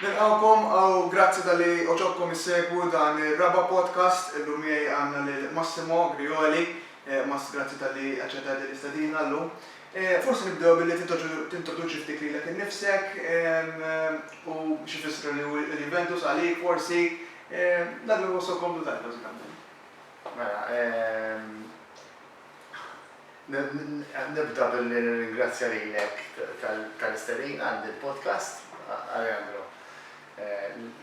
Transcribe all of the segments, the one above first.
Nilqgħukom u grazzi talli għoġobkom issegwu dan ir-raba' podcast. Illum miegħi għandna lil Massimo Grioli. Mass, grazzi talli aċċettajt din l-istedina llum. Forsi nibdew billi tintroduċi ftit lilek innifsek u x'ifisser li hu l-Juventus għalik forsi. Dak li jħossok komdu tgħid bażikament. Mela, Nibda billi nirringrazzja lilek tal-istedina għal din il-podcast, Alejandro,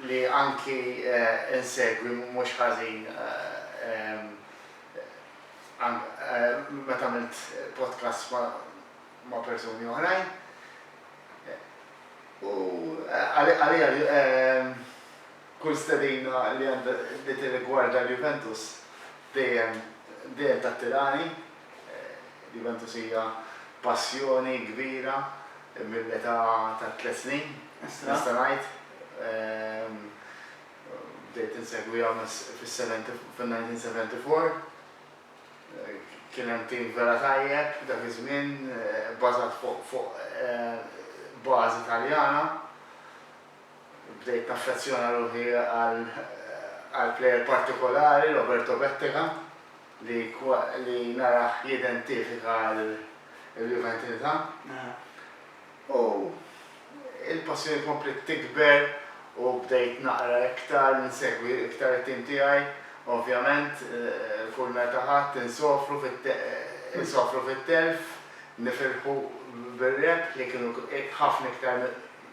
li anki insegwi mhux ħażin meta għamilt podcasts ma' persuni oħrajn. U għalija Kull stedina li tirrigwarda l-Juventus dejjem dejjem tattirani. L-Juventus hija passjoni kbira mill-età ta' tliet snin, nista' ngħid. Bdejt insegwiha fis-1974. Kien hemm tim vera tajjeb dak iż-żmien, bbażat fuq bażi Taljana. Bdejt naffezzjona ruħi għal għal plejer partikolari, Roberto Bettega, li li narah jidentifika l-Juventinità. U l-passjoni kompliet tikber u bdejt naqra iktar, insegwi iktar it-tim tiegħi. Ovvjament, kull meta ħadd insofru insofru fit-telf, nifirħu bir-rebħ li kienu ħafna iktar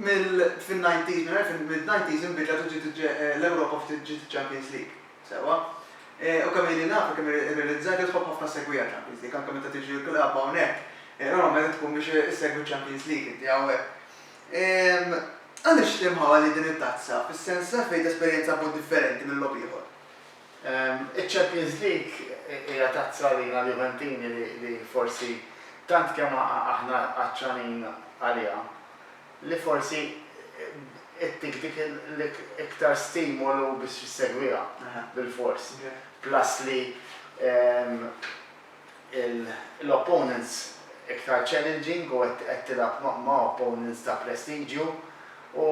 Mill-fin-90s, mill-90s inbidlet u ġiet l-Ewropa ftit ġiet iċ-Champions League. Sewwa. U kemm ili naf u kemm irrealizzajt li tħobb ħafna ssegwiha ċ-Champions League. Anke meta tiġi l-klabb hawnhekk, normalment qed tkun biex issegwi ċ-Champions League inti hawnhekk. Għaliex l-imħabba lejn din it-tazza, fis-sens, fejn tesperjenza b'mod differenti minn logħob ieħor? Iċ-Champions League hija tazza għalina l-Juventini li forsi tant kemm aħna għatxanin għaliha li forsi ittik dik l-iktar stimolu biex issegwiha bilfors. Plus li l-opponents iktar challenging u qed tilgħab ma' opponents ta' prestiġju u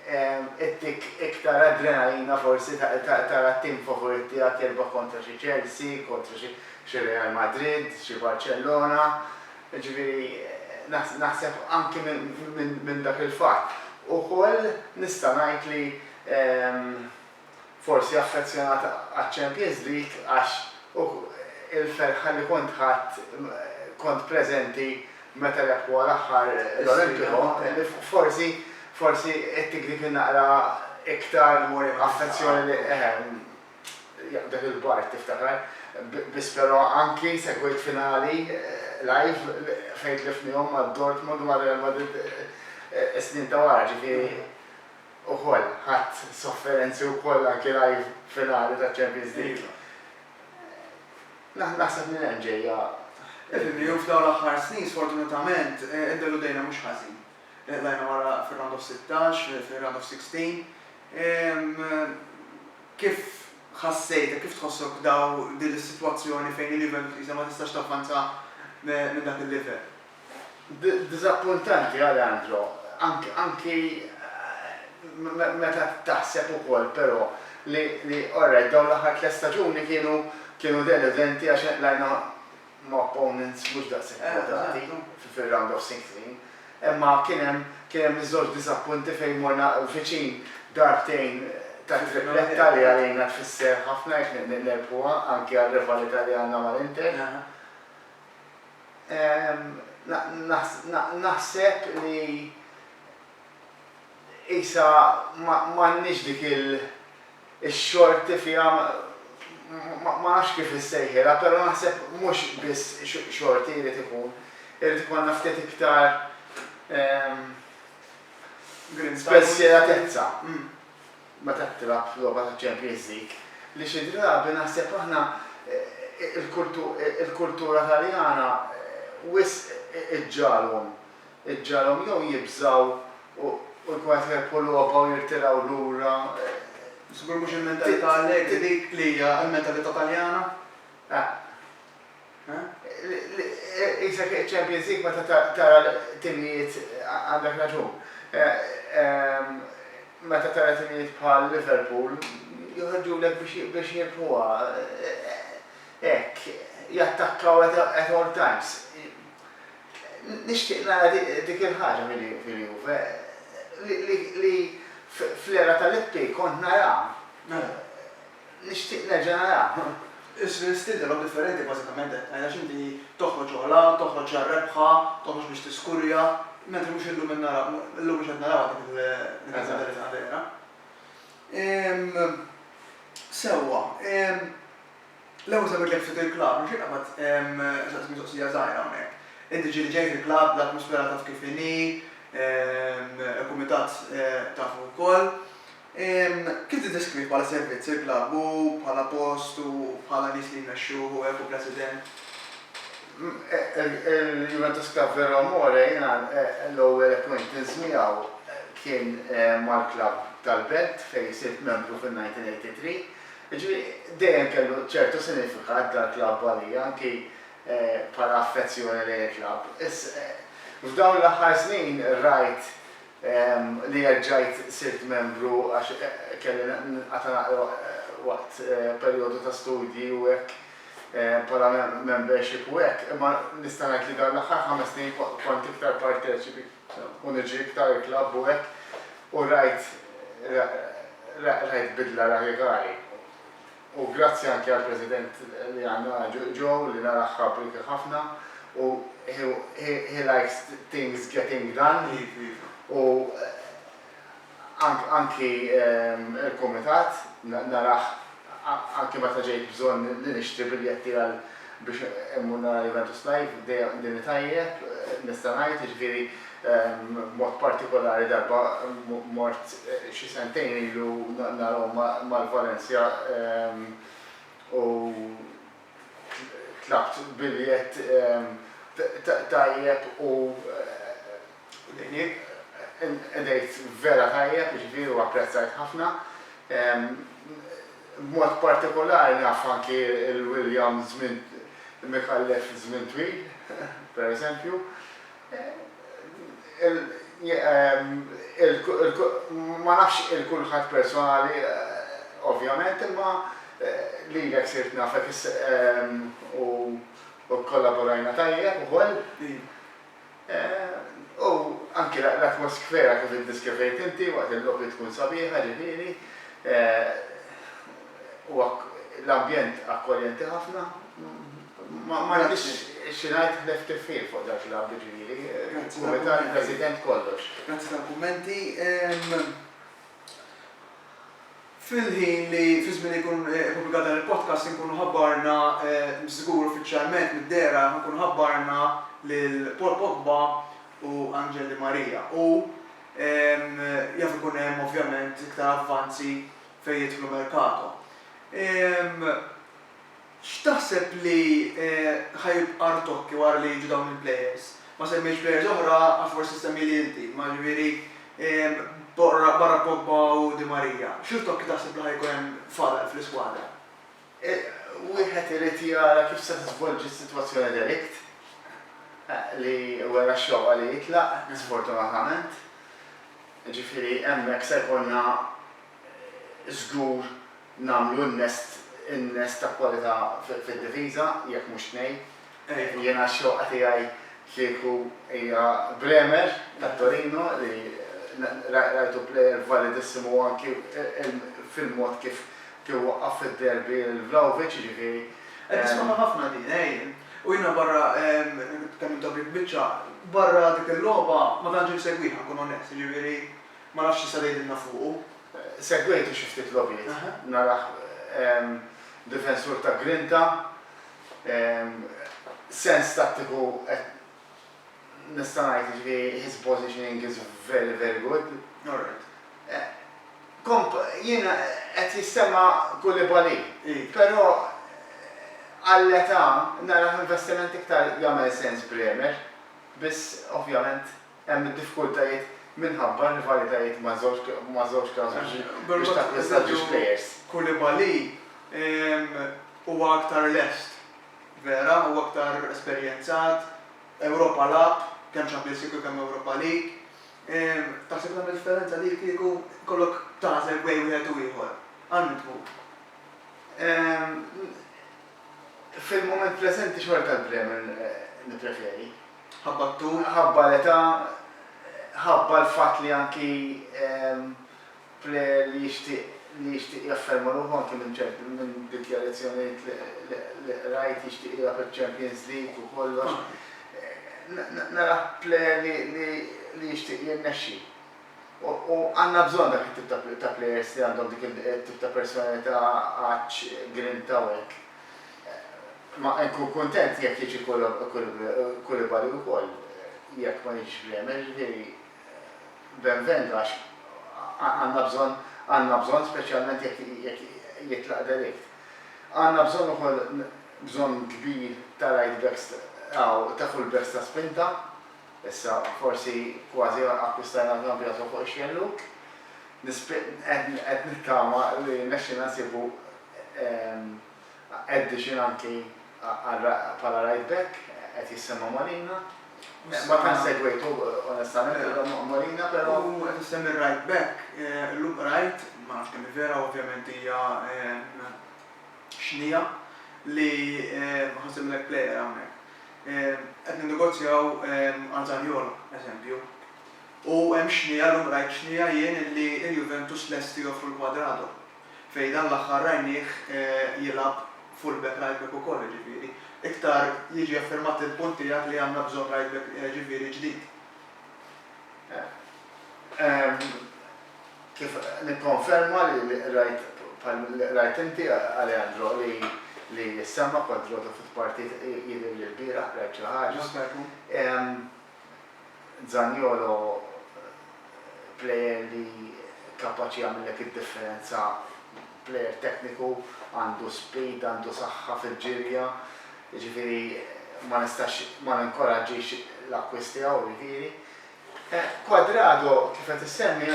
ttik iktar adrenalina forsi tara t-tim favorit tiegħek jirbaħ kontra xi Chelsea, kontra xi Real Madrid, xi Barcellona. Jiġifieri naħseb anki minn dak il-fatt. Ukoll nista' ngħid li forsi affezzjonata għaċ-Champions League għax il-ferħa li kont ħadt kont preżenti meta rebħuha l-aħħar l-Olimpico, forsi forsi ittik dik in-naqra iktar affezzjoni li eħe dak il-bard tiftakar, biss però anki segwejt finali live fejn tlifnihom ma' Dortmund u ma' Real Madrid is-snin ta' wara, ġifieri. ukoll ħadt sofferenzi wkoll anki live finali ta' Champions League. Naħseb minn hemm ġejja. Edilli u f'dawn l-aħħar snin sfortunatament iddeludejna mhux ħażin. Tlajna wara fir-round of sittax, fir-round of sixteen. Kif ħassejtek, kif tħossok daw din is-sitwazzjoni fejn il-Juventus qisha ma tistax tavvanza minn dak il-livell? Diżappuntanti Alejandro, anki meta taħseb ukoll però li alright dawn l-aħħar tliet staġuni kienu deludenti għax lajna ma' opponents mhux daqshekk kwotati fir-round of sixteen, imma kien hemm iż-żewġ diżappunti fejn morna viċin darbtejn tat-tripletta li għalina tfisser ħafna jekk nerbħuha anki għar-rivalità li għandna mal-Inter. Naħseb li qisha m'għandniex dik ix-xorti fiha, ma nafx kif insejħilha, però naħseb mhux biss xorti jrid ikun, irid ikollna ftit iktar spensieratezza. meta tilgħab f'logħba ta' Champions League li xi drabi naħseb aħna il-kultura Taljana wisq iġġagħalhom iġġagħalhom jew jibżgħu u jkun qed jirbħu logħba u jirtiraw lura. Żgur mhux il-mentalità Allegri dik li hija l-mentalità Taljana. Eh. Qisek iċ-Champions League meta tara timijiet, għandek raġun, meta tara timijiet bħal Liverpool joħorġulek biex jirbħuha hekk, jattakkaw at all times. Nixtieq nara dik il-ħaġa fil-Juve li fl-era ta' Lippi kont naraha. Nixtieq nerġa' narah. Is-stil tiegħek differenti bażikament hekk tgħid għax inti toħroġ ogħla, toħroġ għar-rebħa, toħroġ biex tiskurja, mentri mhux illum qed naraw, illum mhux qed narawha dik il-mentalità vera. Sewwa, l-ewwel semmejtlek ftit il-klabb, nixtieq qabad insaqsik mistoqsija żgħira hawnhekk. Inti ġieli ġej fil-klabb, l-atmosfera taf kif inhi, il-kumitat tafu wkoll. Kif tiddeskrivi bħala servizz il-klabb u bħala post u bħala nies li jmexxuh u hekk u President? Il-Juventus Club Vero Amore jiena l-ewwel acquaintance miegħu kien mal-klabb tal-belt fejn sirt membru fin-1983. Jiġifieri dejjem kellu ċertu sinifikat dal-klabb għalija anki bħala affezzjoni lejn il-klabb. F'dawn l-aħħar snin rajt li reġġajt sirt membru għax kelli ninqata' naqra waqt perjodu ta' studji u hekk bħala membership u hekk, imma nista' ngħid li dawn l-aħħar ħames snin kont iktar parteċipi u niġi iktar il-klabb u hekk u rajt rajt bidla radikali. U grazzi anki għall-President li għandna Jo li narah hardworking ħafna u he likes things getting done u anki l-Kumitat narah anki meta ġejt bżonn li nixtri biljetti għal biex immur nara Juventus live dejjem qdini tajjeb nista' ngħid jiġifieri B'mod partikolari darba mort xi sentejn ilu nagħlqhom mal-Valencia u tlabt biljett tajjeb u qdejt vera tajjeb jiġifieri u apprezzajt ħafna. B'mod partikolari naf anki l-William żmien Micallef żmien twil, pereżempju. Ma nafx il-kulħadd personali ovvjament imma lilek sirt nafek u kkollaborajna tajjeb ukoll. U anki l-atmoskfera kif iddiskrivejt inti waqt il-logħbi tkun sabiħa ġifieri u l-ambjent akkoljenti ħafna. Ma nafx xi ngħid ħlef tifħir fuq dak li għamlu ġieli. Kumitat, President, kollox. Grazzi tal-kummenti. Fil-ħin li fiż-żmien li jkun ippubblikat dan il-podcast inkunu ħabbarna żgur uffiċjalment mid-dehra inkunu ħabbarna lil Paul Pogba u Angel Di Maria u jaf ikun hemm ovvjament iktar avvanzi fejn jidħlu mercato. X'taħseb li ħa jibqa' rtokki wara li jiġu dawn il-plejers? Ma semmejtx plejers oħra, għax forsi ssemmieli inti, imma ġifieri barra Pogba u Di Maria, xi rtokki taħseb li ħa jkun hemm fadal fl-iskwadra? Wieħed irid jara kif se tiżvolġi s-sitwazzjoni de Ligt, li wera x-xewqa li jitlaq, sfortunatament. Ġifieri hemmhekk se jkollna żgur nagħmlu in-nest in-nest ta' kwalità fid-difiża, jekk mhux tnejn. U jiena x-xewqa tiegħi kieku hija Bremer ta' Torino li rajtu plejer validissimu anki fil-mod kif kif waqqaf fid-derby lil Vlahovic, jiġifieri. Qed nisimgħuha ħafna din, ej. U jiena barra kemm intom il-biċċa, barra dik il-logħba ma tantx insegwiha, nkun onest, jiġifieri. Ma nafx xi se tgħidilna fuqu. Segwejtu xi ftit logħbiet. Narah difensur ta' grinta, sens tattiku qed nista' ngħid jiġifieri his positioning is very very good. Komp jien qed jissemma Koulibaly, però għall-età narah investiment iktar jagħmel sens Bremer, biss ovvjament. Hemm id-diffikultajiet minħabba rivalitajiet ma' żewġ klabbs biex takkwista żewġ plejers. Koulibaly huwa aktar lest, vera, huwa aktar esperjenzat, Ewropa lagħab, kemm Champions League u kemm Ewropa League. Taħseb tagħmel differenza li kieku jkollok tagħżel bejn wieħed u ieħor? Għal min tmur? Fil-mument preżenti xorta għal Bremen nippreferi. Ħabba t-tul, ħabba l-età, ħabba l-fatt li anki plejer li jixtieq li jixtieq jafferma ruħu anki minn ċerti minn dikjarazzjonijiet li li qrajt jixtieq jilgħab iċ-Champions League u kollox. Narah plejer li li li jixtieq jirnexxi. U u għandna bżonn dak it-tip ta' ta' plejers li għandhom dik it-tip ta' personalità, għatx, grinta u hekk. Ma nkun kuntent jekk jiġi Koulibaly wkoll, jekk ma jiġix Bremer, jiġifieri benvendo għax għandna bżonn għandna bżonn speċjalment jekk jekk jitlaq de Ligt. Għandna bżonn ukoll bżonn kbir ta' right backs aw ta' full backs ta' spinta, issa forsi kważi akkwistajna Cambiaso fuq ix-xellug. Qed nittama li jirnexxilna nsibu Edition anki bħala right back qed jissemma' Molina. Ma tantx segwejtu onestament illum Molina però. U qed issemmi r-right back, illum qrajt, ma nafx kemm hi vera u ovvjament hija xnija, li ħa nsemmilek plejer hawnhekk. Qed ninnegozjaw għal Zaniolo, eżempju. U hemm xnija, illum qrajt xnija jien, li l-Juventus lesti joffru l-Cuadrado. fejn dan l-aħħar rajnieh jilgħab fullback right back ukoll jiġifieri iktar jiġi affermat il-punt tiegħek li għandna bżonn right back jiġifieri ġdid. Kif nikkonferma li qrajt bħal li qrajt inti Aleandro li li ssemma' Quadrado f'partit jidhirli l-bieraħ qrajt xi ħaġa. Zaniolo plejer li kapaċi jagħmillek id-differenza, plejer tekniku, għandu speed, għandu saħħa fil-ġirja, jiġifieri ma nistax ma ninkoraġġix l-akkwist tiegħu jiġifieri. Cuadrado kif qed issemmi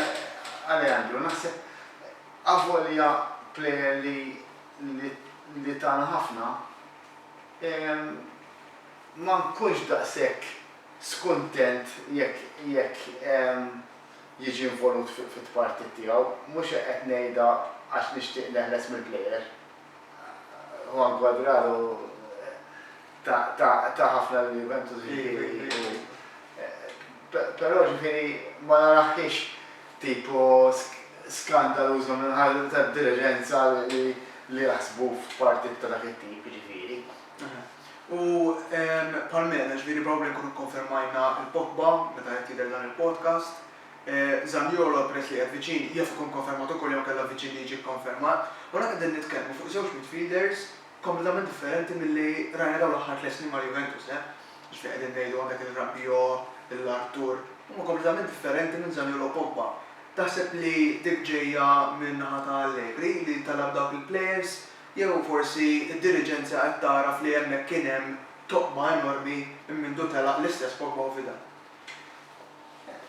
Alejandro naħseb avolja plejer li li tana ħafna, ma nkunx daqshekk skuntent jekk jekk jiġi involut fit-tpartit tiegħu. Mhux qed ngħidha għax nixtieq neħles mill-plejer. Juan Cuadrado ta ta ta ħafna lil Juventus ġifieri u però ġifieri ma narahhiex tipo skandaluża minn ħadd tad-diriġenza li li jaħsbu f'partit ta' dak it-tip ġifieri. U Palmela, ġifieri probabli nkunu kkonfermajna l-Pogba meta qed jidher dan il-podcast. Zaniolo peress li qiegħed viċin jaf ikun konfermat ukoll jew inkella viċin li jiġi kkonfermat. U hawnhekk qegħdin nitkellmu fuq żewġ midfielders kompletament differenti milli rajna dawn l-aħħar tliet snin mal-Juventus, eh. Ġifieri qegħdin ngħidu għandek il-Rabiot, il-Arthur, huma kompletament differenti minn Zaniolo u Pogba. Taħseb li dik ġejja min-naħa ta' Allegri li talab dawk il-players Jew forsi d-diriġenza qed tagħraf li hemmhekk kien hemm toqma enormi minn mindu telaq l-istess Pogba u Vidal.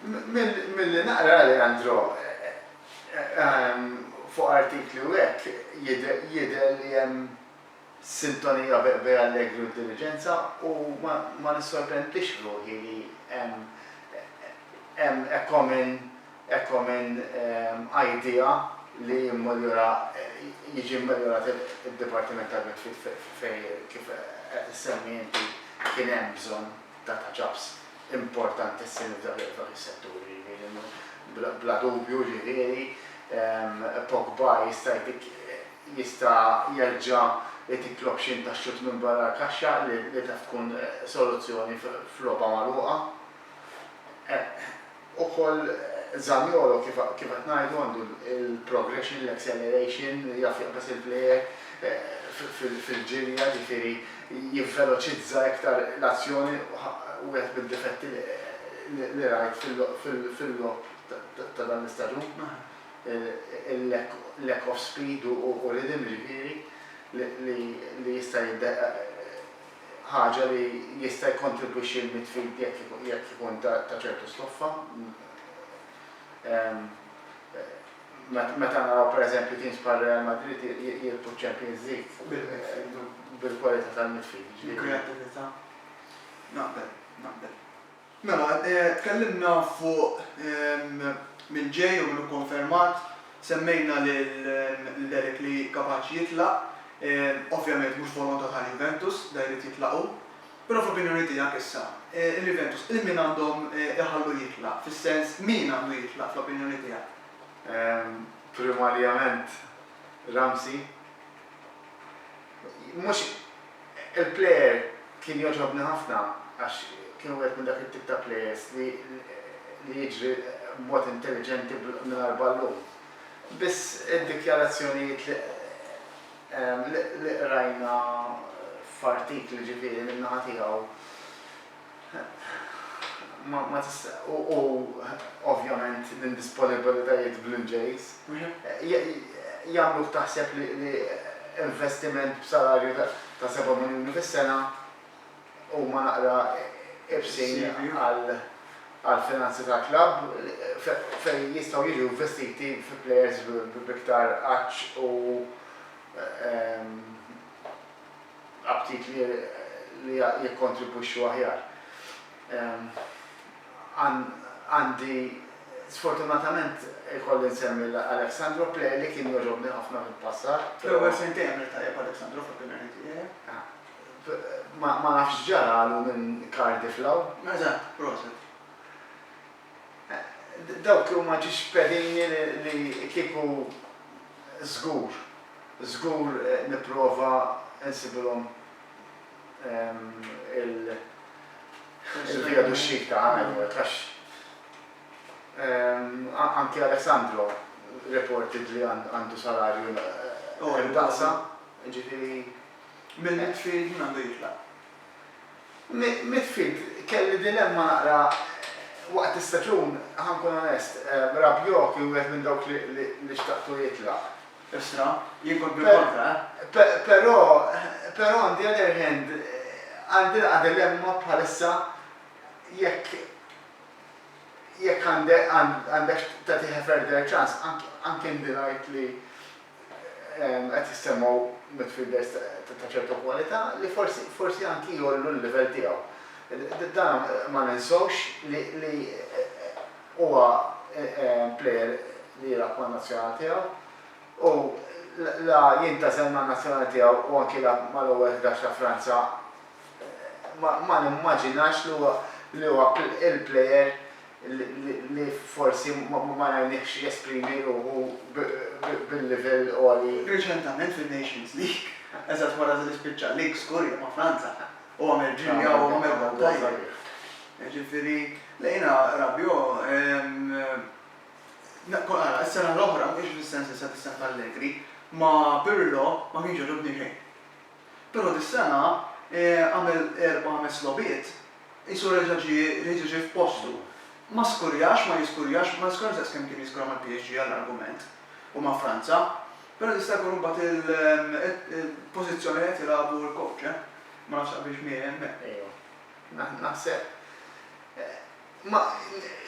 Milli naqra Leandro fuq artikli u hekk jidher li hemm sintonija bejn Allegri u d-diriġenza u ma nissorprendix ruħi li hemm hekk common Ekko minn idea li jimmoljora, jiġi mmoljorat id-Dipartiment tal-Midfield fejn kif qed issemmi inti kien hemm bżonn ta' touch-ups importantissimi f'dak f'dawk is-setturi ġifieri bla bla dubju ġifieri Pogba jista' jtik jista' jerġa' jtik l-option ta' xutt minn barra l-kaxxa li taf tkun soluzzjoni f'logħba magħluqa. Ukoll Zaniolo kif kif qed ngħidu għandu l-progression, l-acceleration, jaf jaqbeż il-plejer fil-ġirja, ġifieri jivveloċizza iktar l-azzjoni, wieħed mid-difetti li rajt fil-logħob ta' dan l-istaġun, il-lack of speed u rhythm ġifieri li jista' ħaġa li jista' jikkontribwixxi għal mitt fid jekk ikun ta' ċertu stoffa. Meta naraw pereżempju teams bħal Real Madrid jirbħu ċ-Champions League bil-kwalità tal-mitt fid. Il-kreattività. Naqbel, naqbel. Mela, tkellimna fuq min ġej u min hu konfermat, semmejna lil Delic li kapaċi jitlaq, ovvjament mhux volontà tal-Juventus, da jrid jitlaq hu. Però fl-opinjoni tiegħek issa, il-Juventus lil min għandhom iħallu jitlaq, fis-sens min għandu jitlaq fl-opinjoni tiegħek? Primarjament Ramsey. Mhux. Il-plejer kien jogħġobni ħafna għax kien wieħed minn dak it-tip ta' plejers li li jiġri b'mod intelliġenti mingħajr ballun. Biss id-dikjarazzjonijiet li li qrajna f'artikli ġifieri min-naħa tiegħu. u ovvjament l-indisponibilitajiet bl-Ingliż jagħmluk taħseb li investiment b'salarju ta' seba' miljuni fis-sena huma naqra ibsin għall-finanzi tal-klabb fejn jistgħu jiġu investiti fi plejers b'iktar għatx u aptit li jikkontribwixxu aħjar. Għandi sfortunatament ikolli nsemmi lil Alexandro player li kien jogħġobni ħafna fil-passat. Fl-ewwel sentejn għamilt tajjeb Alexandro fl-opinjoni tiegħi. Ma nafx x'ġaralu minn Cardiff 'l hawn. Eżatt, proset. Dawk huma ġixpelini li kieku żgur, żgur nipprova nsibilhom il-via d'uscita, għajjat għax anki Alessandro reported li għandu salarju daqsa, jiġifieri. Mill-midfield min għandu jitlaq? Midfield, kelli dilemma naqra waqt l-istaġun, ħa nkun onest. Rabiot kien wieħed minn dawk li xtaqtu jitlaq. Isra, jien kont bil-kontra, eh? Però, però on the other hand, għandi naqra dilemma bħalissa jekk jekk għandekx tagħtih a further chance, anke ndunajt li qed jissemmgħu midfielders ta' ċertu kwalità li forsi forsi anki jgħollu l-livell tiegħu. Dan ma ninsewx li li huwa plejer li jilgħab man-nazzjonali tiegħu u la jintgħażel man-nazzjonali tiegħu u anki la mal-ewwel ħdax ta' Franza ma nimmaġinax li huwa li huwa il-plejer li forsi ma rajniehx jesprimi ruħu bil-livell għoli. Reċentament fin-Nations League, eżatt wara li spiċċa l-lig skur jew ma' Franza, u għamel ġirja u għamel gowl tajjeb. Jiġifieri, le jiena Rabiot, ara, is-sena l-oħra, mhux fis-sens issa tas-sena t'Allegri, ma' Pirlo ma kienx għoġobni xejn. Però dis-sena għamel erba'-ħames logħbiet, qisu reġa' ġie reġa' ġie f'postu. Ma skurjax, ma jiskurjax, ma niskurax daqs kemm kien jiskura mal-PSG għall-argument u ma' Franza. Però jista' jkun imbagħad il-pożizzjoni li qed jilagħbu l-coach, eh. Ma nafx taqbilx miegħi hemmhekk. Naħseb. Ma,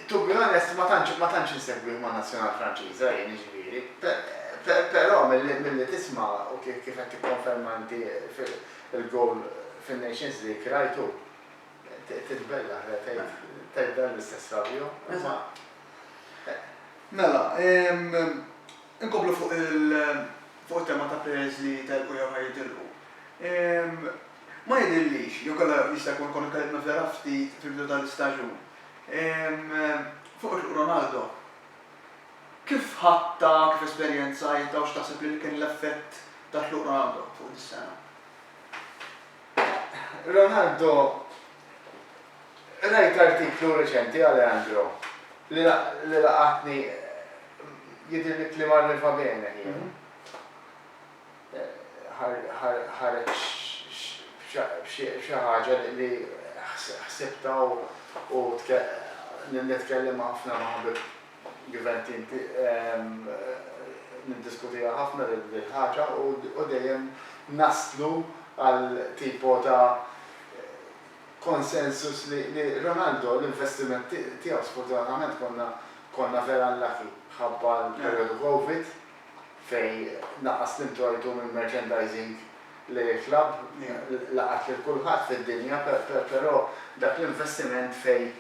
to be honest, ma tantx, ma tantx insegwih man-Nazzjonal Franċiża jien, jiġifieri. Pe, pe, però milli, milli tisma' u ki, kif qed tikkonferma inti fi, il-goal fin-Nations League, rajtu? Ti, titbellaħ le tgħid, tgħid dan l-istess Fabio, imma, eh. Mela, ehm, inkomplu fuq il, fuq it-tema ta' players li telqu jew ħa jitilqu. Ehm. Ma jidhirlix, jew kellha jista' jkun kont kelliet nofsera ftit fil-bidu tal-istaġun. Fuq it-tluq Ronaldo kif ħadtha, kif esperjenzajtha u x'taħseb li kien l-effett tat-tluq Ronaldo fuq dis-sena? Ronaldo, rajt artiklu reċenti għal Leandro li laqatni, jidhirli kliem għal Riva Bene kien. ħareġ xi ħaġa li ħsibtha u nitkellem ħafna ma' ħabib Gvern Team niddiskutiha ħafna dil-ħaġa u dejjem naslu għal tipo ta' consensus li Ronaldo l-investiment tiegħu sfortunatament konna vera unlucky ħabba l-perjodu Covid fejn naqqas l-introjtu mill-merchandising lejn il-klabb, laqat lil kulħadd fid-dinja, però dak l-investiment fejn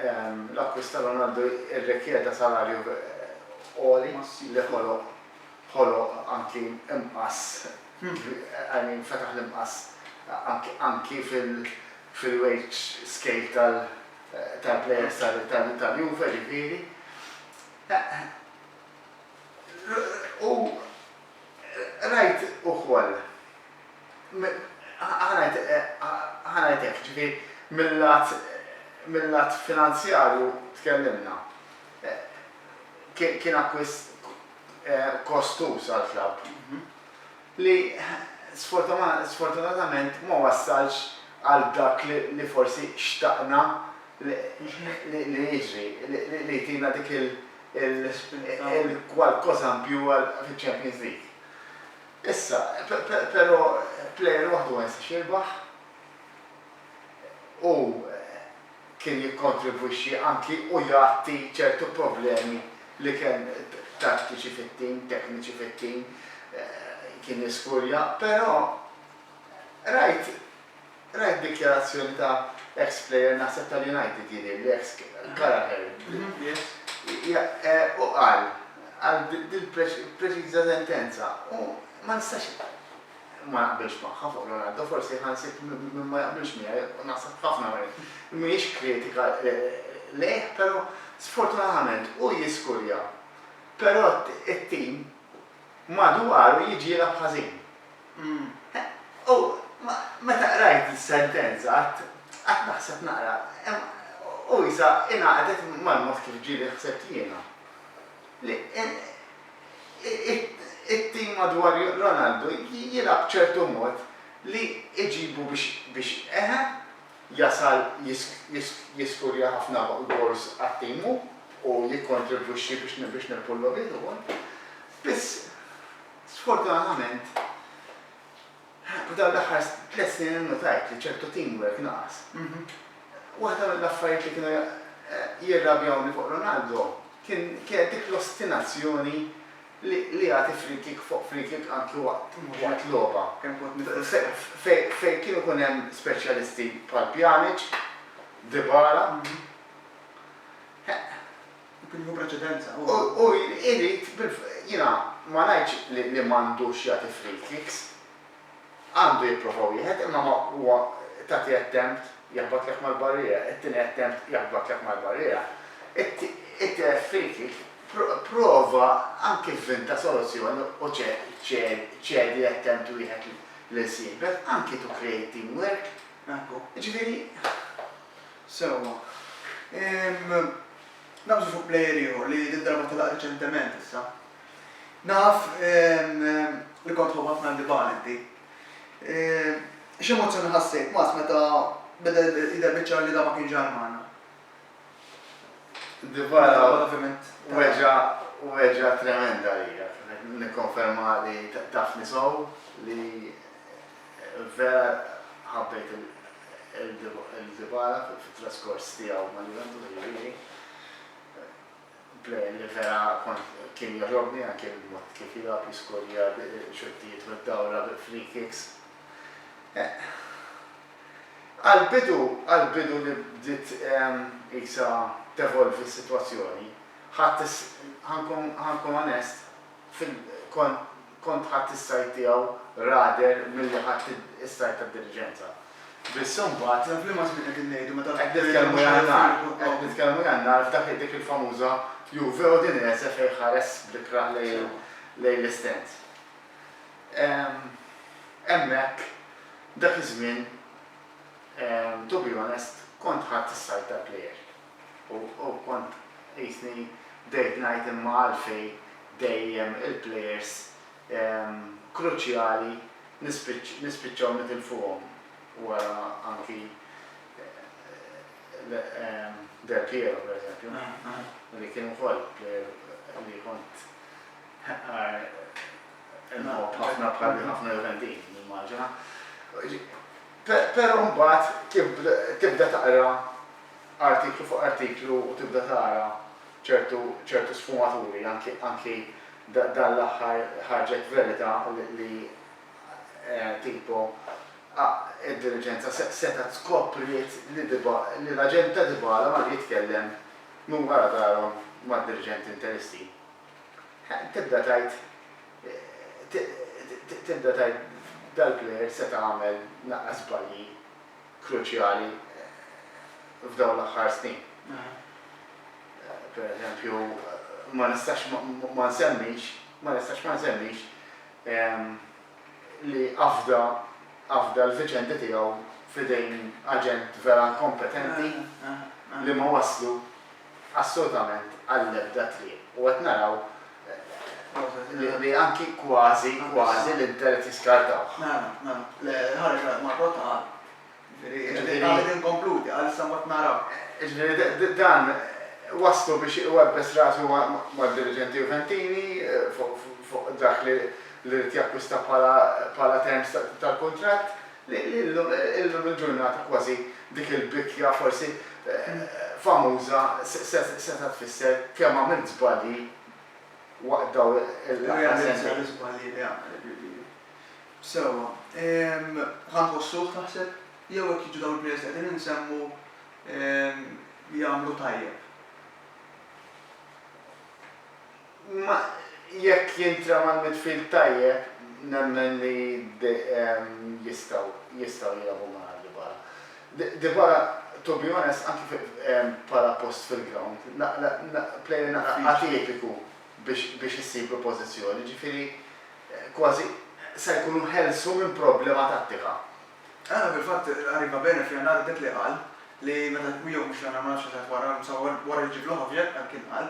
l-akkwist ta' Ronaldo rrikjeda salarju għoli li ħoloq ħoloq anki imqass I mean fetaħ l-imqass anki fil-wage scale tal-plejers tal-Juve ġifieri. U rajt ukoll, ħa ngħid hekk, ġifieri mil-lat mil-lat finanzjarju tkellimna, kien akkwist kostuż għall-klabb. li sfortunatament ma wassalx għal dak li forsi xtaqna li jiġri, li jtina dik il-kwalkosa in più fiċ-Champions League. Issa, però plejer waħdu ma jistax jirbaħ u kien jikkontribwixxi anki u jgħatti ċertu problemi li kien tattiċi fit-tim, tekniċi fit-tim kien jiskurja, però rajt rajt dikjarazzjoni ta' eks plejer naħseb tal-United jidhirli, eks Gallagher, u qal qal dil-preċiża sentenza u ma nistax ma naqbilx magħha fuq Leonardo, forsi ħansib min ma jaqbilx miegħi u naħseb f'ħafna minn mhijiex kritika lejh, però sfortunatament hu jiskurja, però t-tim madwaru jiġielha b'ħażin. U meta qrajt is-sentenza qatt naħseb naqra, u isa ingħaqdet mal-mod kif ġieli ħsibt jiena. It-tim madwar Ronaldo jilgħab b'ċertu mod li jġibu biex eħe, jasal jiskurja ħafna goals għat-tim hu u jikkontribwixxi biex nirbħu l-logħbiet ukoll. Biss, sfortunatament, F'dawn l-aħħar tliet snin innutajt li ċertu teamwork naqas. Waħda mill-affarijiet li kienu jirrabjawni fuq Ronaldo kienet dik l-ostinazzjoni li jagħti free-kick fuq free-kick anki waqt logħba. Fejn kien ikun hemm speċjalisti bħal Pjanic, Dybala. Kien jieħu preċedenza, hu. U jrid, jiena ma ngħidx li m'għandux jagħti free kicks. Għandu jipprova wieħed imma ma huwa tagħti attempt jaħbatlek mal-barriera, it-tieni attempt jaħbatlek mal-barriera. It-tielet free kick prova anki vvinta soluzzjoni u ċedi attempt wieħed lil sieħbek, anki to create teamwork. Jiġifieri. Sewwa. Ehm, nagħżlu fuq plejer ieħor li did-darba telaq riċentement issa. Naf, ehm, li kont tħobb ħafna Dybala inti. Ehm, x'emozzjoni ħassejt, Mats, meta beda jidher biċ-ċar li dan ma kienx ġar magħna? Dybala weġġa' weġgħa tremenda lija. Nikkonferma li tafni sew li Vera ħabbejt lil Dybala fit-traskors tiegħu ma' Juventus, jiġifieri plejer li vera kien jogħġobni anke l-mod kif jilgħab, jiskorja xuttijiet mid-dawra bil-free kicks. Għall-bidu, għall-bidu li bdiet qisha tevolvi s-sitwazzjoni, ħadd ħa nkun onest, kont Kont ħadt is-sajd tiegħu rather milli ħadt is-sajd tad-diliġenza. Biss imbagħad. Naf liema żmien qegħdin ngħidu meta wieħed jgħidilna mhux ħa nifirħu b'dan. Qed nitkellmu għan-nar. Qed nitkellmu għan-nar f'dak dik il-famuża Juve Udinese fejn ħares bl-ikrah lejn l-istand. Hemmhekk dak iż-żmien to be honest kont ħadt is-sajd tal-player. U kont qisni bdejt ngħid imma għalfejn dejjem il-plejers kruċjali nispiċċaw nitilfuhom wara anki Del Piero per eżempju li kien ukoll plejer li kont inħobb ħafna bħal ħafna Juventini nimmaġina. Però mbagħad tibda taqra artiklu fuq artiklu u tibda tara ċertu ċertu sfumaturi anki anki da dan l-aħħar ħarġet verita' li li tipo a id-diliġenza se setgħet skopriet li Dyba li l-aġent ta' Dybala mar jitkellem minn wara darhom mad-diriġenti Interisti. He tibda tgħid ti ti tibda tgħid dal-plejer seta' għamel naqra żbalji kruċjali f'dawn l-aħħar snin. Pereżempju, ma nistax ma nsemmix, ma nistax ma nsemmix li afda afda l-viċendi tiegħu f'idejn aġent vera inkompetenti li ma wasslu assolutament għall-ebda triq u qed naraw li anki kważi, kważi l-Inter qed jiskartawh. Mela, mela, l-ħareġ Marco Tal, jiġifieri qal li tinkonkludi, qal issa mbagħad naraw. Jiġifieri dan wasslu biex iwebbes rasu mad-diriġenti Juventini fuq dak li jrid jakkwista bħala terms tal-kuntratt, Illum il-ġurnata kważi dik il-bitja forsi famuża setgħet tfisser kemm għamilt żbalji waqt dawn l-aħħar sentejn. Irrealizza l-iżbalji li għamilt, jiġifieri. Sewwa. Ħa nħossuh, taħseb? Jew hekk jiġu dawn il-players li qegħdin insemmu jagħmlu tajjeb? Imma jekk jintrema l-midfield tajjeb, nemmen li jistgħu jistgħu jilagħbu ma' Dybala. Dybala, to be honest, anki bħala post fil-ground, player naqra atipiku biex issib il-pożizzjoni, jiġifieri kważi sa jkun hu ħelsu minn problema tattika. Ara fil-fatt Arriva Bene f'Jannar dak li qal, li meta jew mhux Jannar ma nafx meta wara, insomma wara li ġie Vlahovic, hekk kien qal,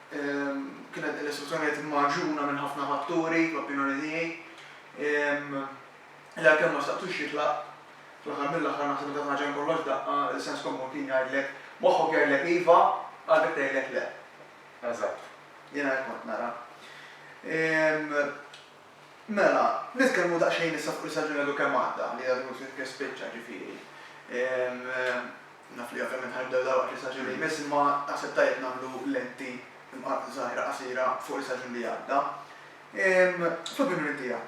Kienet din l-istituzzjoni magħġuna minn ħafna fatturi, fl-opinjoni tiegħi, li għalkemm ma staqtux jitlaq, fl-aħħar mill-aħħar naħseb meta tħaġa minn kollox daqqa, is-sens komun kien jgħidlek, moħħok jgħidlek iva, qalbek tgħidlek le. Eżatt. Jiena hekk kont nara. Mela, nitkellmu daqsxejn issa fuq l-istaġun għadu kemm għadda, li għadu mhux kif spiċċa, ġifieri. Naf li ovvjament ħa nibdew dal-waqt l-istaġun li jmiss, imma naħseb tajjeb nagħmlu lenti żgħira qasira fuq l-istaġun li għadda. Fl-opinjoni tiegħek,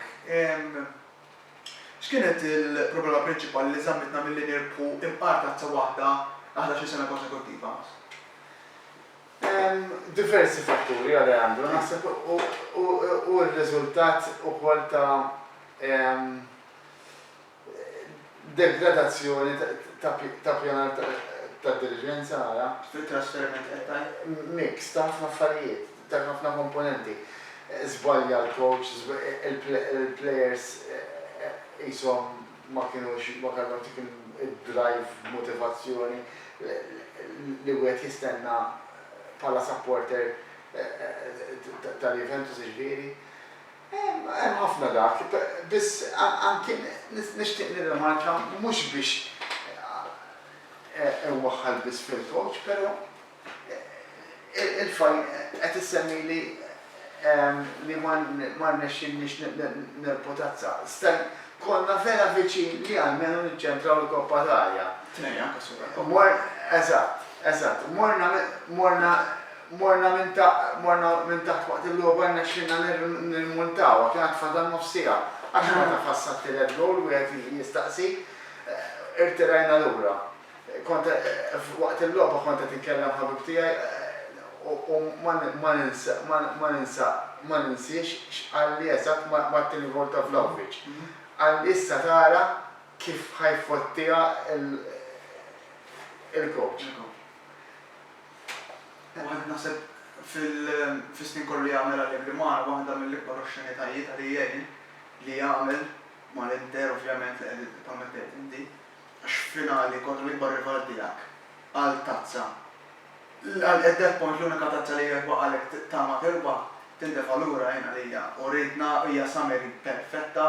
x'kienet il-problema prinċipali li żammitna milli nirbħu imqar tazza waħda għal ħdax-il sena konsekuttiva? Hemm diversi fatturi, Alejandro, naħseb hu r-riżultat ukoll ta' degradazzjoni ta' ppjanar ta' diliġenza, ara. Fit-trasferiment qed tgħid? Mix ta' ħafna affarijiet, ta' ħafna komponenti. Żbalja l-coach, il-plejers qishom ma kinux, ma kellhomx dik id-drive b'motivazzjoni li wieħed jistenna bħala supporter tal-Juventus jiġifieri. Hemm ħafna dak, biss anki nixtieq nirrimarka mhux biex inwaħħal biss fil-coach, però. Il-fajl qed issemmili li ma rnexxilniex nerbħu tazza. Stan, konna vera viċin li almenu niċċentraw il-koppa t'arja. Tnejn anke superkoppa. Mor, eżatt, eżatt. Morna, morna, morna minn ta', morna minn taħt waqt il-logħba rnexxilna nirrmuntawha, kien għad fadal nofs siegħa. Għax ma tafas sa t-tielet gowl wieħed jiġi jistaqsik. Irtirajna lura. Kont waqt il-logħba kont qed inkellem ħabib tiegħi u ma ninsa ma ninsiex x'qalli eżatt Martin Ivolta Vlahovic. Qalli issa tara kif ħa jfottiha l-coach. Wieħed naħseb fis-snin kollu li għamel Allegri mar waħda mill-ikbar oxxenitajiet għalih jgħin li għamel mal-Inter ovvjament li qed ippermettiha tgħin di. għax f'finali kontra l-ikbar rival tiegħek għal tazza, at that point l-unika tazza li jekk baqgħalek tama tirbaħ, tintefa' lura, jien għalija uritna hija summary perfetta,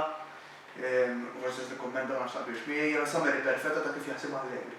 u forsi se tikkummenta ma nafx taqbilx miegħi, hija summary perfetta ta' kif jaħsibha Allegri.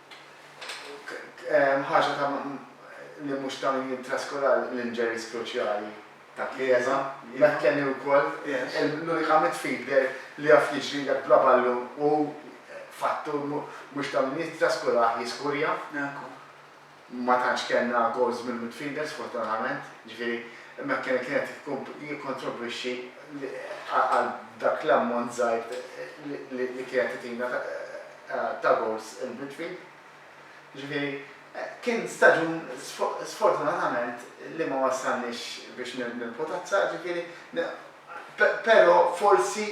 Ħaġa ta' li mhux ta' min jien traskola l-injuries kruċjali ta' Chiesa, McKennie wkoll, l-unika midfielder li jaf jiġrilek bla ballun u fattur mhux ta' min jittraskolah jiskurja. Ma tantx kellna goals mill-midfielder sfortunatament, jiġifieri McKennie kien qed jikkontribwixxi għal dak l-ammont żgħir li kien qed itina. ta' gowls il-midfield. Jiġifieri kien staġun sfortunatament li ma wassalniex biex nibnu l-potazza, jiġifieri però forsi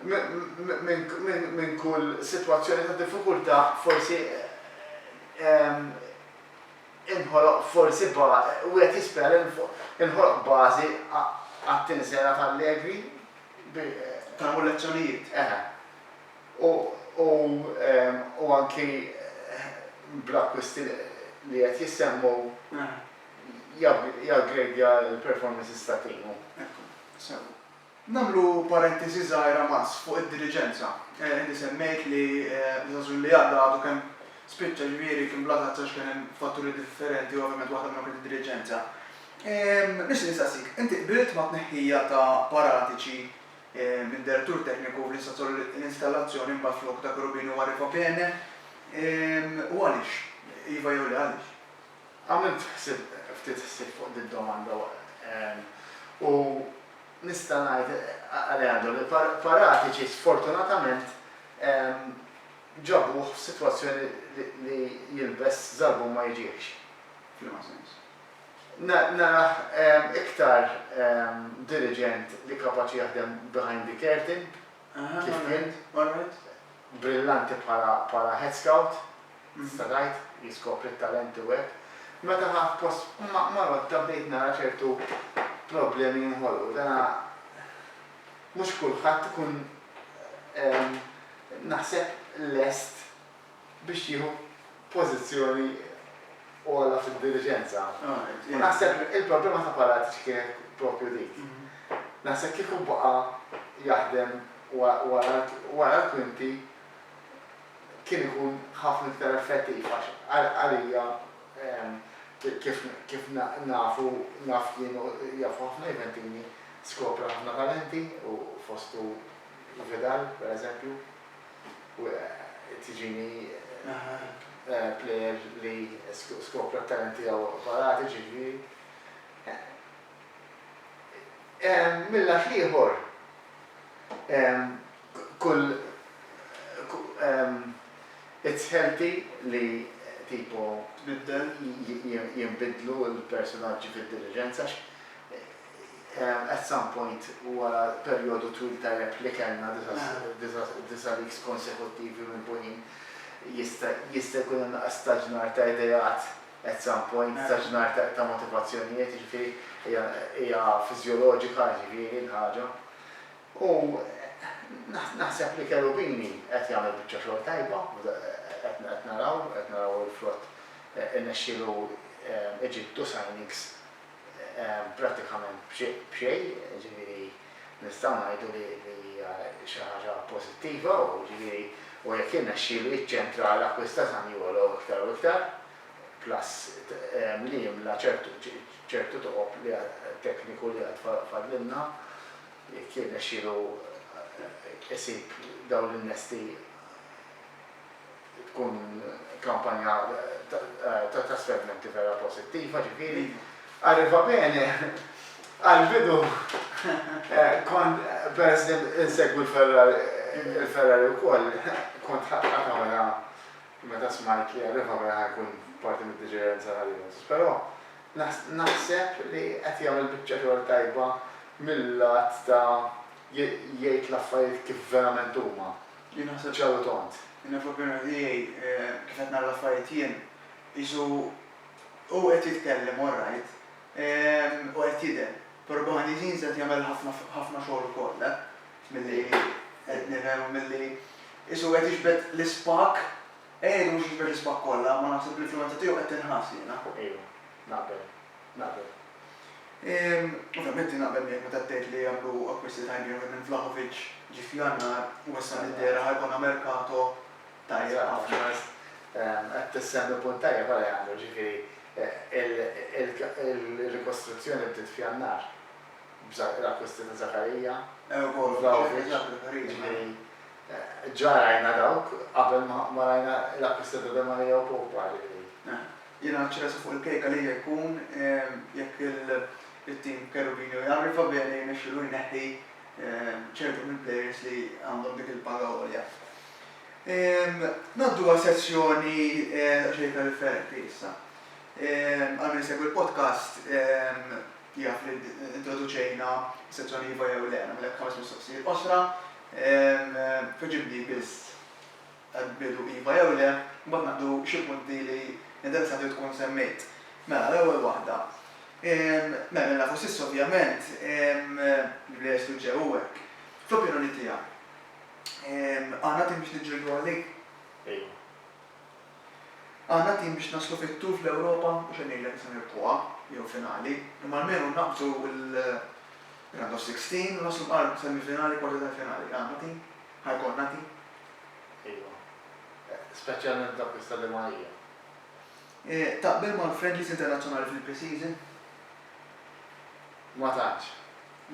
minn kull sitwazzjoni ta' diffikultà forsi inħoloq forsi wieħed jispera li nħoloq bażi għat-tieni sejħa ta' Allegri bi. Tagħmlu lezzjonijiet. Eħe. u anki bl-akkwist li qed jissemmu jaggradeja l-performances tat-tim. Ekku, sew. Nagħmlu parentesi żgħira mas fuq id-diriġenza. Inti semmejt li l-Żagħżugħ li għadda għadu kemm spiċċa, ġifieri kien bla tazza għax kien hemm fatturi differenti u ovvjament waħda minnhom kienet id-diriġenza. Nixtieq nistaqsik, inti qbilt mat-tneħħija ta' Paratici minn Direttur Tekniku l-installazzjoni mbagħad flok dak Rubin huwa Rifopene? U għaliex? Iva jew le għaliex? Għamilt ħsieb ftit ħsieb fuq din domanda u nista' ngħid Aleandro li Paratici sfortunatament ġabuh f'sitwazzjoni li jilbes żarbun ma jiġiehx. F'liema sens? Narah iktar diriġent li kapaċi jaħdem behind the curtain kif kien. Brillanti bħala head scout, tista' tgħid, jiskopri t-talenti u hekk. Meta ħa post Marotta bdejt nara ċertu problemi jinħolqu. Dana mhux kulħadd ikun naħseb lest biex tieħu pożizzjoni ogħla fid-diliġenza. U naħseb il-problema ta' Palazz kienet proprju dik. Naħseb kieku baqa' jaħdem wara l-kwinti kien ikun ħafna iktar effettiv għax għalija kif nafu naf jien u jafu ħafna Juventini skopra ħafna talenti u fostu Vidal pereżempju. Tiġini plejer li skopra t-talent tiegħu varati, ġifieri. Mil-lat l-ieħor, kull it's healthy li tipo jinbidlu l-persunaġġi fid-diliġenza għax At some point wara perjodu twil ta' għeb li kellna, disa' weeks konsekuttivi milbunin, jista' jista' jkun hemm nuqqas ta' ġnar ta' ideat at some point, ta' ġnar ta' motivazzjonijiet, jiġifieri hija hija fiżjoloġika jiġifieri l-ħaġa. U naħseb li Cherubini qed jagħmel biċċa xogħol tajba, qed qed naraw qed naraw il-frott irnexxielu iġib two signings, prattikament b'xejn, jiġifieri nistgħu ngħidu li hija xi ħaġa pożittiva u jiġifieri u jekk jirnexxielu jiċċentra għal akkwist ta' Zaniolo iktar u iktar, plus li jimla ċertu toqob li tekniku li għad fadlilna, jekk jirnexxielu isib dawn l-innesti. tkun kampanja ta' trasferimenti vera posittiva, ġifieri, arriva bene, għall-bidu kont peress li insegwi l-Ferrari wkoll, kont ħadt għamla meta smajt li arriva bene ħa jkun parti mid-diġerenza ta' Allianz, però naħseb li qed jagħmel biċċa xogħol tajba mil-lat ta' jgħid l-affarijiet kif verament huma. Jien naħseb x'għadu tond. Jiena fl-opinjoni tiegħi, kif qed nara l-affarijiet jien, qisu hu qed jitkellem all right, u qed jidher, però behind the scenes qed jagħmel ħafna ħafna xogħol ukoll, milli qed nifhem u milli qisu qed jiġbed l-ispak, qiegħed mhux jiġbed l-ispak kollha, imma naħseb l-influwenza tiegħu qed tinħass jiena. Iva, naqbel. Naqbel. Ovvjament jien naqbel miegħek meta tgħid li jagħmlu akkwisti tajbin anke minn Vlahovic ġie f'Jannar u issa li dehra ħa jkollna mercato tajjeb ħafna. Qed tissemmi punt tajjeb Alejandro, ġifieri il-rikostruzzjoni bdiet f'Jannar bl-akkwisti ta' Zakaria u Vlahovic, ġifieri ġa rajna dawk qabel ma rajna l-akkwisti ta' Demaria u Pope, ġifieri. Jiena ċerezza fuq il-kejka li hija jkun jekk it-tim Cherubino jarriva bene jirnexxilu jneħħi ċertu mill-plejers li għandhom dik il-paga għolja. Ngħaddu għal sezzjoni daqsxejn iktar differenti issa. Għal min isegwi l-podcast jaf li introduċejna s-sezzjoni iva jew le. Nagħmlek ħames mistoqsijiet qosra. Tweġibli biss. Hemm bidu iva jew le, imbagħad naqdu xi punti li niddersat li tkun semmejt. Mela, l-ewwel waħda. Mela, li nafu s'issa ovvjament, bla jestu ġew u hekk, fl-opinjoni tiegħek, għandna tim biex niġġieldu għalik? Iva. Għandna tim biex naslu fit-tour fl-Ewropa, mhux qed ngħidlek issa nirbħuha, jew finali, imma almenu naqbżu l-round of sixteen u naslu mal-semifinali, kwarti tal-finali, għandna tim? Ħa jkollna di? Ejwa. Speċjalment dawk li stadewha għalija. Taqbel mal-friendlies internazzjonali fil-pre-season? Ma tantx.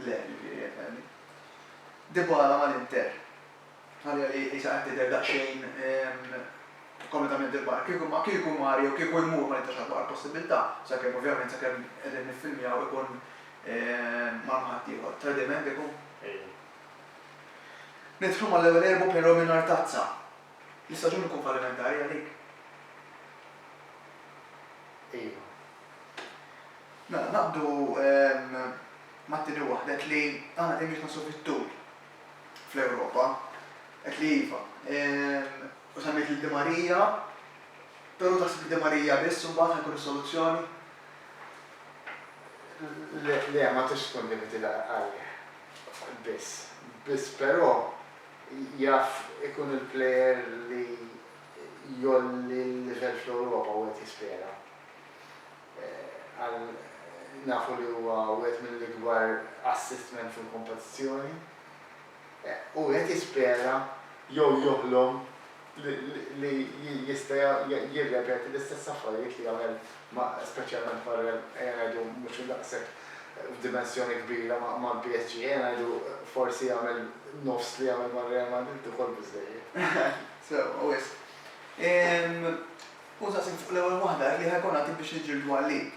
Le, ġifieri qed ngħidli. Dybala mal-Inter. Għalija li qisha qed tidher daqsxejn kompletament il-barra. Kieku ma, kieku mar jew kieku jmur ma nibtax ħadd waqgħa l-possibilità, sakemm ovvjament sakemm qegħdin niffilmjaw ikun mar ma' ħaddieħor. Tradiment ikun? Ejwa. Nidħlu mal-ewwel erbu' però mingħajr tazza. L-istaġun ikun fallimentari għalik? Iva. Mela naqbdu mat-tieni waħda, għedt li aħna dejjem nitnaqqsu fit-tul fl-Ewropa. Għedt li iva. U semmejt lil Di Maria, però taħseb li Di Maria biss imbagħad ħa jkun is-soluzzjoni? Le, le, ma tistax tkun limited għalih. biss. Biss però jaf ikun il-plejer li jgħolli l-livell fl-Ewropa u qed jispera għal nafu li huwa wieħed mill-ikbar assist men fil-kompetizzjoni u qed jispera jew joħlom li jista' jirrepeti l-istess affarijiet li għamel ma' speċjalment ma' Real, ejja ngħidu mhux daqshekk f'dimensjoni kbira mal-PSG, ejja ngħidu forsi jagħmel nofs li għamel ma' Real Madrid ukoll biżżejjed. Sewwa wisq. Hu saqsiek fuq l-ewwel waħda, jekk ħa jkollna tim biex niġġieldu għalik.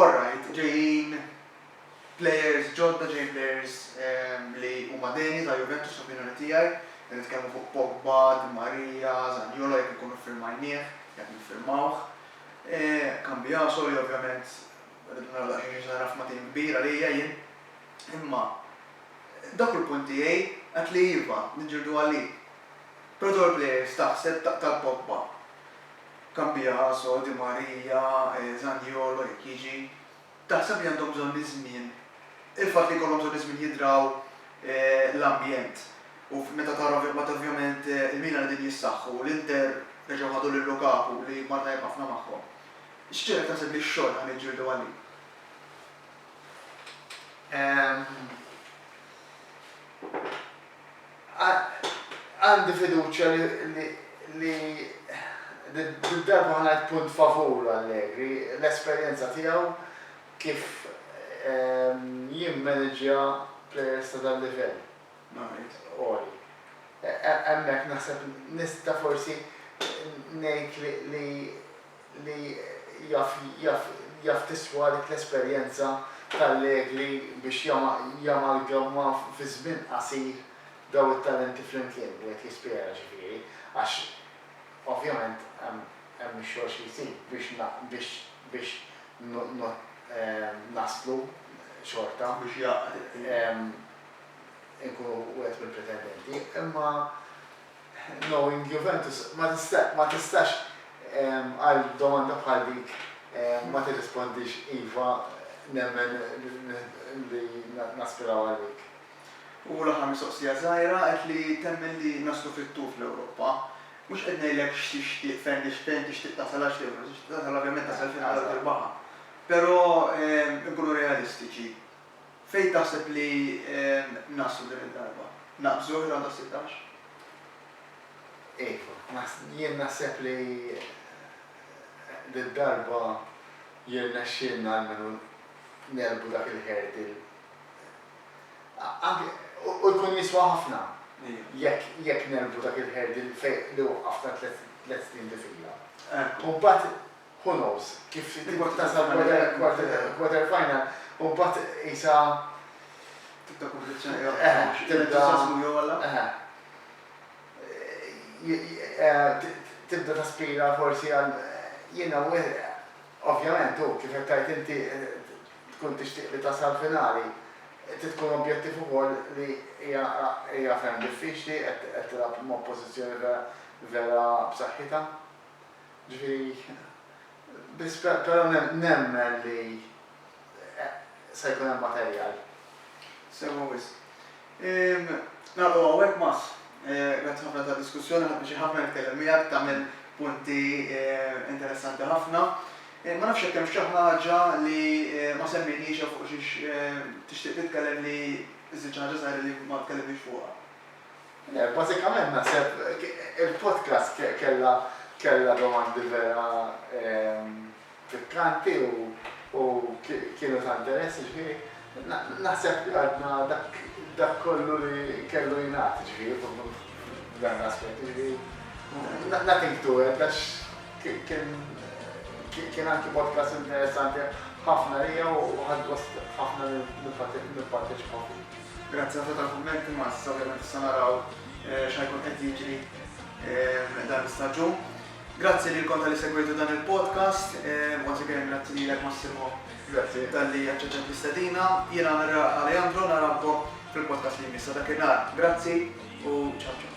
Orrajt, ġejjin. Plejers ġodda ġejjin plejers li huma deni ta' Juventus fl-opinjoni tiegħi. Qed nitkellmu fuq Pogba, Di Maria, Zaniolo jekk inkunu ffirmajnieh, jekk niffirmawh. Cambiaso li ovvjament rridu naraw daqsxejn xi se nagħraf ma' tim kbir għalija jien. Imma dak hu l-punt tiegħi, għedt li iva, niġġieldu għalih. Però dawn il-plejers taħseb taqtal Pogba, Cambiaso, Di Maria, Zaniolo jekk jiġi. Taħseb li għandhom bżonn iż-żmien? Il-fatt li jkollhom bżonn iż-żmien jidraw l-ambjent u meta tara meta ovvjament il-Milan qegħdin jissaħħu u l-Inter reġgħu ħadu lil Lukaku li mar tajjeb ħafna magħhom. X'ġiegħlek taħseb li x-xogħol ħa niġġieldu għalih? Ehm. Għandi fiduċja li did-darba ħa ngħid punt favur Allegri, l-esperjenza tiegħu kif jimmaniġġja plejers ta' dal-livell għoli. Hemmhekk naħseb nista' forsi ngħid li li jaf jaf jaf tiswa dik l-esperjenza t'Allegri biex jama jamalgamma fi żmien qasir dawn it-talenti flimkien, u qed jispjega ġifieri, għax ovvjament hemm hemm ix-xogħol xi jsir biex na biex biex no no naslu xorta Biex jaqgħad, ehm. inkunu wieħed mill-pretendenti, imma. Knowing Juventus, ma tistax għal domanda bħal dik ma tirrispondix iva nemmen li naspiraw għal dik. U l-aħħar mistoqsija żgħira, qed li temmen li naslu fit-tul fl-Ewropa. Mhux qed ngħidlek x'tixtieq, fejn tixtieq tasal għax fejn tixtieq tasal ovvjament tasal fina-l u tirbaħha. Però inkunu realistiċi. Fejn taħseb li naslu din id-darba? Naqbżu r-rawnd tas-sittax? Iva, jien naħseb li did-darba jirnexxielna almenu negħlbu dak il-hurdle. Anke, u jkun jiswa ħafna jekk negħlbu dak il-hurdle li waqqafna tliet snin bi fila. U mbagħad Who knows? Kif tibda tasal mal-quarter final u mbagħad qisha. Tibda kompetizzjoni oħra. L-entużjażmu jogħla. Tibda taspira forsi għal jiena ovvjament hu kif qed tgħid inti tkun tixtieq li tasal finali. Trid tkun objettiv ukoll li hija ferm diffiċli qed tilgħab m'oppożizzjoni vera b'saħħitha. Però nemmen li se jkun hemm materjal. Sewwa wisq. Nagħlqu hawnhekk Mass. Grazzi ħafna tad-diskussjoni, ħadt pjaċir ħafna nitkellem miegħek, tagħmel punti interessanti ħafna. Ma nafx jekk hemmx xi ħaġa li ma semmejniex jew fuq xiex tixtieq titkellem li żidt xi ħaġa żgħira li ma tkellimniex fuqha. Le, bażikament naħseb il-podcast kellha domandi vera pikkanti u kienu ta' interess, jiġifieri naħseb li għadna dak kollu li kellu jingħad, jiġifieri f'dan l-aspett, jiġifieri nothing to add għax kien anki podcast interessanti ħafna għalija u ħadt gost ħafna nipparteċipa fih. Grazzi ħafna tal-kummenti ma issa ovvjament issa naraw x'ha jkun qed jiġri dan l-istaġun. Grazzi lilkom talli segwejtu dan il-podcast. Once again grazzi lilek Massimo. Grazzi. Talli aċċettajt l-istedina. Jien għamilha Alejandro narawkom fil-podcast li jmiss. Sa dakinhar grazzi u ciao ciao.